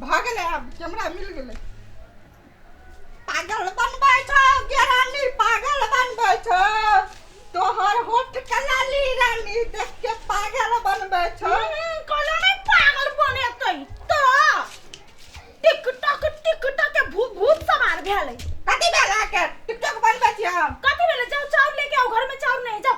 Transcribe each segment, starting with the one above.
भऽ गेलै आब कैमरा मिल गेलै पागल बनबै छौ गे रानी पागल बनबै छौ तोहर होठ के लाली रानी देख के पागल बनबै छौ कहलो ने पागल बनेतै तो टिकटॉक टिकटॉक के भूत भूत सवार भेलै कथी भेल अहाँके टिकटॉक बनबै छी हम कथी भेलै जाओ चाउर लेके आओ घर में चाउर नहीं है, जाओ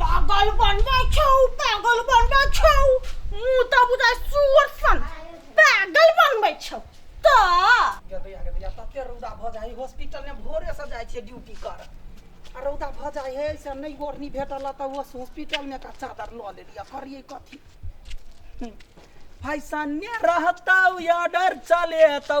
पागल बनबै छौ पागल बनबै छौ मुँह तऽ बुझाइ सुअर सन पागल बनबै छौ तऽ गेदैया गेदैया तते रौदा भऽ जाइ हॉस्पिटल में भोरे से जाइ छियै ड्यूटी कर आ रौदा भऽ जाइ है से नहि ओढ़नी भेटल तऽ ओ हॉस्पिटल में का चादर लऽ लेलियै करियै कथी हम्म। फैसने रहतौ ऑर्डर चलेतौ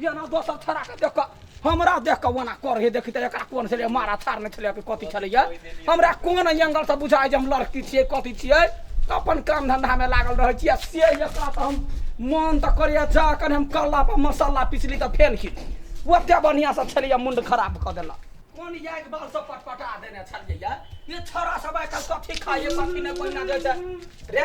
एना दोसर छड़ा के देख कऽ हमरा देख कऽ ओना कर हे देखी तऽ एकरा कोन छलै मारा थार नहि छलै कि कथी छलैया हमरा कोन एंगल से बुझाइ जे हम लड़की छियै कथी छियै तऽ अपन काम धंधा मे लागल रहै छियै आ से एकरा तऽ हम मन तऽ करैया जा कनि हम कल्ला पर मसाला पिसली तऽ फेल की ओते बढ़िया से छलैया मुंड खराब कऽ देलक कोन याद बाल सब पटपटा देने छलियै या ये छोरा सब आइ काल्हि कथी खाइए कथी नहि कोई ना दै छै रे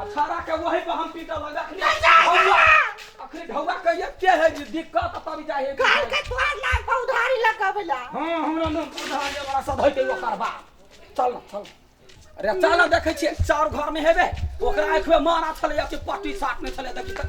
आ छाड़ा के वही पर हम पीटल हन अखनी नहीं जाए ढौआ- जाए। अखनी ढौआ के एते है जे दिक्कत तब जाए है घर के तोहर नाम पर उधारी लगावे ला हां हमरा नाम पर उधार ले वाला सब है ते ओकर बाप चल ना चल अरे चल ना देखे छिए चार घर में हेबे ओकरा आंख में मारा छले या कि पट्टी साट में छले देखि त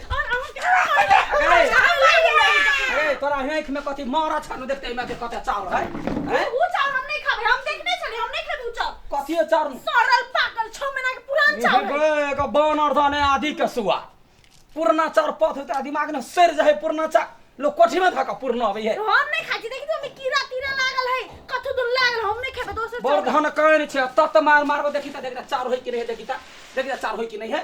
तोरा आँख में कथी मारा छन देखते में के कते चाउर है हैं उ चाउर हम नहीं खाबे हम देखने छले हम नहीं खाबे उ चाउर कथी है चाउर सरल पागल 6 महीना के पुरान चाउर है बे का बानर दाने आदि के सुआ पुरना चाउर पथ होता दिमाग में सर जाए पुरना चा लोग कोठी में धका पुरना अबे है हम नहीं खाजी देखी तो हमें कीड़ा तीड़ा लागल है कथु दुल लागल हम नहीं खाबे दोसर बड़ चाउर धन कहन छे तत मार मारबो देखी त देखी त चाउर होई कि नहीं है, देखी त देखी त चाउर होई कि नहीं है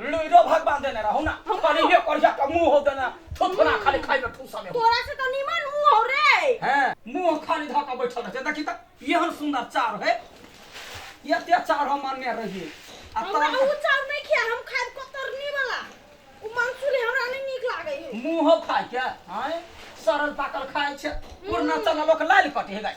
लुइरो भगवान देने रहू ना हम- करिए करिया के मुंह हो देना थोथोना खाली खाई में ठूसा में तोरा से तो निमन मुंह हो रे हैं मुंह खाली धऽ के बैठल रहते देखी त एहन सुंदर चार है एते चार हम मानने रहिए आ हमरा तोर उ चाउर नहीं खिया हम खाए कतरनी वाला उ मंसूली हमरा नहीं नीक लागे है मुंह खाय के हैं सरल पाकल खाय छै पुरना चला लोक लाल कटे है गाय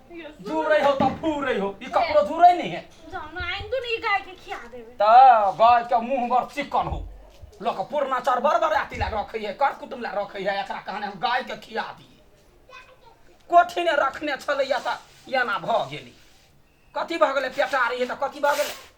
झूरे हो तब पूरे हो ई कपड़ो झूरे नहीं है जाना आइन तो नहीं गाय के खिया देवे त गाय के मुंह बर चिकन हो लोक पुरना चार बर बर आती ला रखे है कर कुटुम ला रखे है एकरा कहने हम गाय के खिया दी कोठी ने रखने छलैया त एना भ गेली कथी भ गेलै पेटारी है त कथी भ गेलै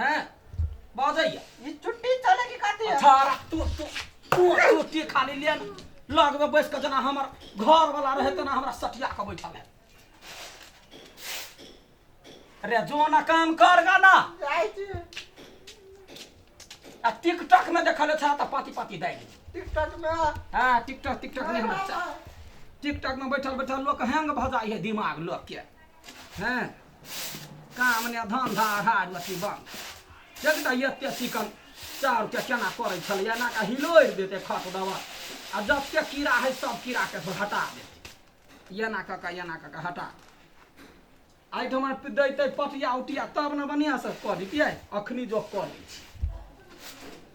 हैं बाजैया ई छुट्टी चले की काटे अच्छा रा, तू तू तू रोटी खा ले लिया लग में बैस के जना हमर घर वाला रहे तना हमरा सटिया के बैठल है रे जो ना काम कर गा ना जाय छी आ टिकटॉक में देखल था त पाती पाती दे दी टिकटॉक में हां टिकटॉक टिकटॉक नहीं हमरा चा- टिकटॉक में बैठल बैठल लोग हैंग भ जाई है दिमाग लोग के हैं काम ने धंधा अढ़ार मछली बंद देख त एते चिकन चाउर के केना करै छल एना के हिलोर देते खत दवा आ जते कीड़ा है सब कीड़ा के सब हटा देते एना क के एना क के हटा आई ठमा दैते पटिया उटिया तब ने बढ़िया से कऽ दितियै अखनी जो कऽ दै छी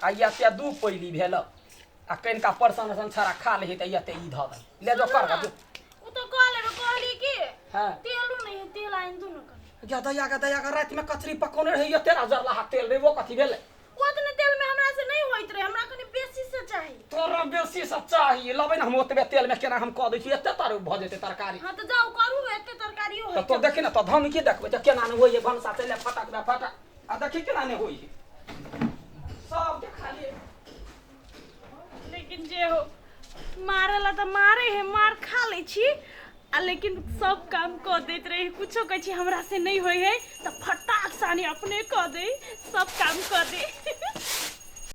आ या ते दू पैली भेल आ कनिका परसन असन छड़ा खा ले तऽ या ते ई धऽ दे ले जो कर दे उ तो कह लेबे कहली कि हां तेलू नहीं है तेल आइन दू न कर जा दया का दया का रात में कचरी पकोने रही तेरा जरला हाथ तेल रे वो कथी भेले ओतने तेल में हमरा से नहीं होइत रहे हमरा कनी बेसी से चाहिए तोरा बेसी से चाहिए लबे ना हम ओतबे तेल में केना हम कह दै छी एते तार भऽ जेते तरकारी हां तो जाओ करू एते तरकारी हो तो देखे ना तो धम की देखबे तो केना न होइए भनसा चले फटक बे फटक आ देखी केना नहि होइ है सबके खाली लेकिन जे हो मारे ला तऽ मारे है मार खा लै छी आ लेकिन सब काम कऽ दैत रही कुछो कहै छी हमरा से नहि होइ है तऽ फटाक सानी अपने कऽ दे सब काम कऽ दे